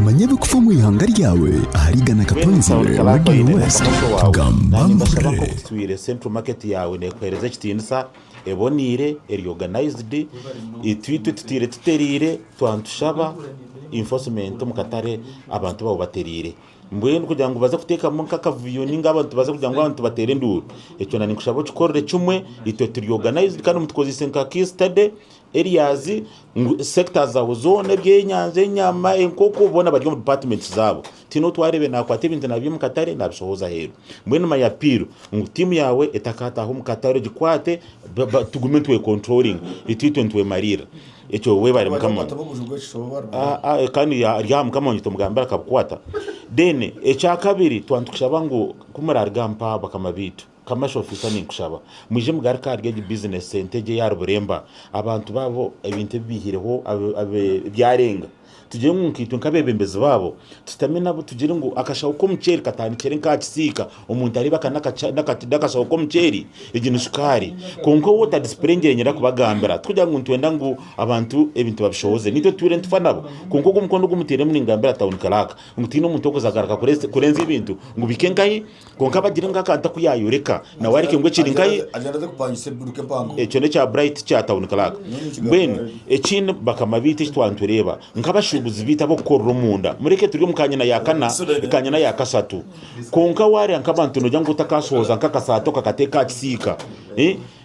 Manya ebikufa omu ihanga ryawe ahari Ghana Katonzi we Radio West. Nibashaba nk'oku kitwire Central Market yaawe neekuheereza ekitiinisa, eboneire, eri organised, itwitwe tutaire tutereire, twaba nitushaba enforcement omu katare abantu baabo batereire. Mbwenu kugira ngu baze kuteekamu nk'akavuyo nainga abantu baze kugira ngu abantu bateere enduuru, ekyo ninkushaba okikorere kimwe, itwe turi organised kandi mutukozeise nka case study. areas ngu sectors zabo zoona ebyenyanja, enyama, enkoko boona bari omu departments zaabo. Tihaine ou twareebire naakwata ebintu naabyiha omu katare naabishohooza aheeru. Mbwenu my appeal ngu tiimu yaawe etakaataaha omu katare ogikwate ba- ba- tugume nitwecontrollinga itwitwe nitwemariirira. Ekyo weebare Mukama. Wakwata obuju bw'ekishobo oba rubaju. Ah, ah, kandi ya- ari aha mukama wanyu tomugambira akabukwata then ekyakabiri twaba nitukushaba ngu ku muraruga mpaha bakama baitu Commercial officer ninkushaba mwije mugaruke ahari egi business sente egye ya ruburemba abantu babo ebintu ebi bihireho byarenga tugire ngu nkaitwe nkabebembezi babo tutame nabo tugire ngu akashaho k'omuceeri katandikire nkaha kisiika omuntu areeba aka nakashaho k'omuceeri egi ni sukaari kwonka owu otadisipurengire ninyenda kubagambira tikugira ngu nitwenda ngu abantu ebintu babishohoze naitwe tutuure nitufa nabo kwonka ogu omukono ogu mutairemu ningambira town clerk ngu tihaine omuntu orikuza agaruka kurenza ebintu ngu bihike nkahi Kwonka aba agire ngu akantu aku yaayoreka nawe areke ngu ekiri nkaye. Ekyo n'ekya Bright kya Town Clerk. Mbwenu ekindi bakama baitu eki twaba nitureeba nk'abashuubuzi baitu ab'okukorera omunda, mureke turi omu kanyina ya kana, kanyina ya kasatu. Kwonka waareeba nk'abantu noogira ngu otakaashohoza nk'akasaati okakateeka aha kisiika.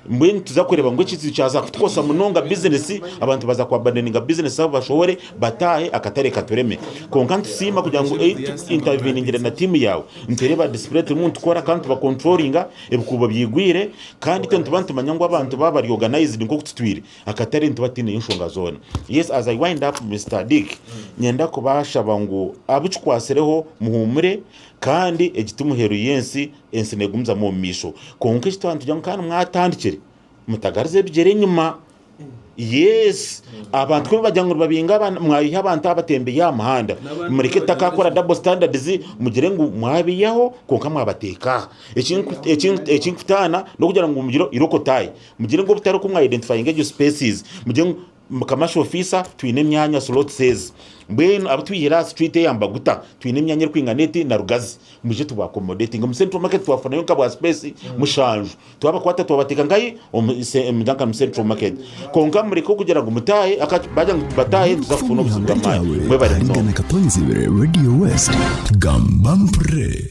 Mbwenu tuza kureba ngu ekizibu kyaza kutukosa munonga bizinesi, abantu baza kuabandoninga bizinesi zabo bashohore bataahe akatare katureme. Kwonka nitusiima kugira ngu ei tu intaviningire na tiimu yaawe. Nitureeba disipuree turimu nitukora kandi tubakonturoringa ebikuubo byigwire kandi itwe nituba nitumanya ngu abantu baaba bari oganayizidi nk'oku tutwire akatare nituba tutiineyo nshonga zoona. Yes as I wind up Mister Dick nyenda kubashaba ngu abu kikwatsireho muhuumure kandi egi ti muheru y'ensi. Ensi negumizamu omu maisho kwonka eki twaba nitugira ngu kandi mwatandikire mutagariza ebigyere enyima. Yes, abantu ku nibagira ngu nibabinga abana, mwayiha abantu abatembeyi aha muhanda, mureke tutaka kukora double standards mugire ngu mwabiyaho kwonka mwabateeka aha. Eki nku- eki nku- eki nkutaana n'okugira ngu mugire irokotaye, mugire ngu obutari oku mwa identifyinga egyo spaces, mugire ngu Mukama shi ofiisa twine emyanya slots ezi mbwenu abu twihire aha street eya mbaguta twine emyanya erikwingana eti na rugazi mwije tuba accommodating omu central market twafunayo nka bwa space mushanju twabakwata twabateeka nkahi omu se- omu Duncan mu central market kwonka mureke okugira ngu mutaahe aka bagira ngu tubataahe tuza Okufa kufuna omu obuzibu ihanga bw'amaani ryawe mwebare munonga. Aharigana Katonyizibwe Radio West, Gamba Mpurire.